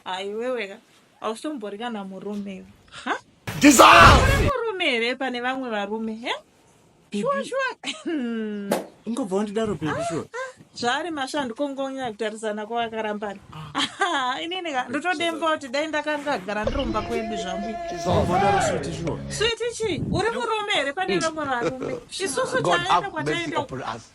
aiweweka hausombori kana murume iwe Ha? Uri murume here pane vamwe varume he shuwa shuwa Hmm. ungobva wandidaro baby shuwa zvaari mashandu kongonyanya kutarisana kwavakarambana Ah, inini ka ndotodemba kuti dai ndakangagara ndiromba kwedu zvangu ungobva wandidaro switi shuwa switi chii uri murume here pane vamwe varume isusu God taenda have mercy kwataenda upon us.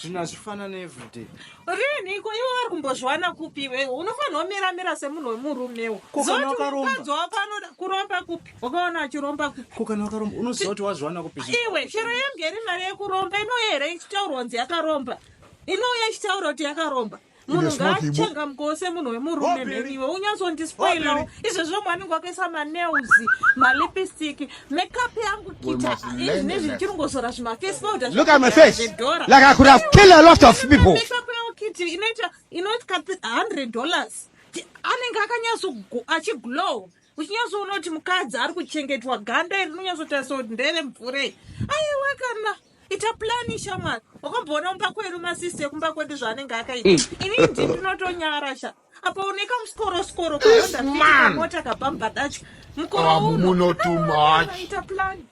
zvinhu hazvifanane everyday riniko iwe vari kumbozviwana kupi iwe unofanirwa mira mira semunhu wemurumewo zotiukadzi wako anoda kuromba kupi wakaona achiromba kupi ko kana wakaromba unoziva kuti wazviwana kupi iwe chero yemgeri mari yekuromba inouya here ichitaurwa kunzi yakaromba inouya ichitaura kuti yakaromba munhu ngaachangamukoo semunhu wemurume mheniwe unyatsondispoilawo izvezvo mwe anenge wakaisa manails malipstick makeup yangu kita izvi nezvi ndichirungozora zvimafesi paudazvedoraakiti inoita inoita 100 dollars anenge akanyatso achiglow uchinyatsoona kuti mukadzi ari kuchengetwa ganda iri rinonyatsotarisao ndere mvurei aiwa kana ita plani shamwari wakamboona kumba kwedu masisi ekumba kwedu zvaanenge akaita mm. ini ndi ndinotonyara sha apa uneka musikoro sikoro kaondaakamota kapa mubhadacho mukoro ah, unoita plani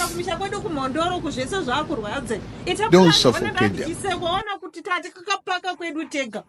kumisha kwedu kumhondoro kuzvese zvaakurwadze itaplaniisekoona kuti tati kakapaka kwedu tega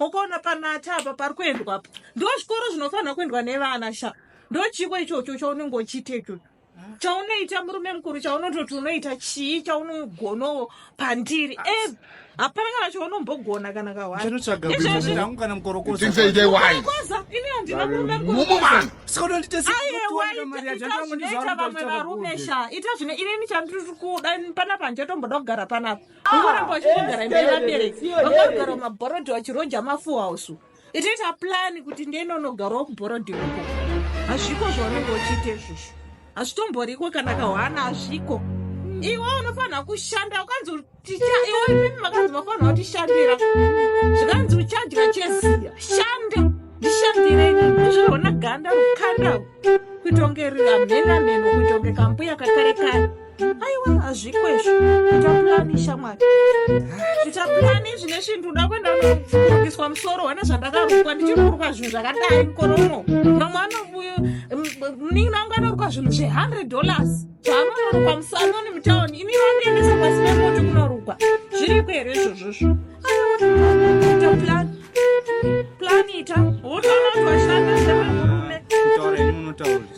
ukaona panati apa pari kuendwa apa ndo zvikoro zvinofanira kuendwa nevana sha ndochiko ichocho chaunenge uchiita ichocho chaunoita murume mukuru chaunototi unoita chii chaunogonawo pandiri e hapana kana chaunombogona kana kahwaiizvezviangu kana mukorokoza ini handina murume mukuruayewaita vamwe varume sha ita zvine inini chandiri kuda panapa handichatomboda kugara panapa ungoramba wachitogara imba yevabereki vakagara mumabhorodhi vachiroja mafuhausu itoita plani kuti ndeinonogarawo kubhorodhi uko hazviko zvaunenge uchiita izvozvo hazvitomboriko kana kahwana hazviko iwe unofanira kushanda ukanzi iwe makanzi mafanira kutishandira zvikanzi uchadya cheziya shanda ndishandire izvozvona ganda rukanda kuitonge riramhenamheno kuitonge kambuya kakare kare aiwa hazvikwezvo titapulani shamwari titapulani zvine svinhu ndoda kuenda kurukiswa musoro wane zvandakarukwa ndichiri kurukwa zvinhu zvakadai mukoro uno mamwe anobuyo muningi nangu anorukwa zvinhu zve100 dollars zvaanonorukwa musanoni mutauni ini vandiendesa pasi pemoti kunorukwa zviriko here izvozvozvo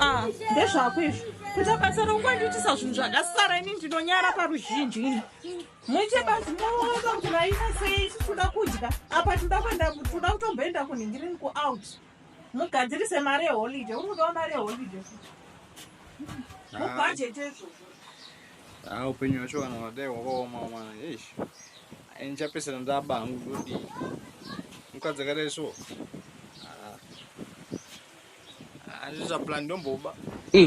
Ah, ndezvako izvo kuita basa rokuwandiitisa zvinhu zvakasara ini ndinonyara paruzhinji ini muite basi moona kuti vaita sei titoda kudya apa tinoda kuenda toda kutomboenda kunhingirini kuout mugadzirise mari yeholiday uri kudawa mari yeholiday mubhajeti ezvozvo Ah, upenyu hwacho vanhu vadai hwakaoma mwana eish eh, ndichapesera ndaba hangu ndodii mukadzi akadai so hazviza ah. ah, plan ndomboba mm.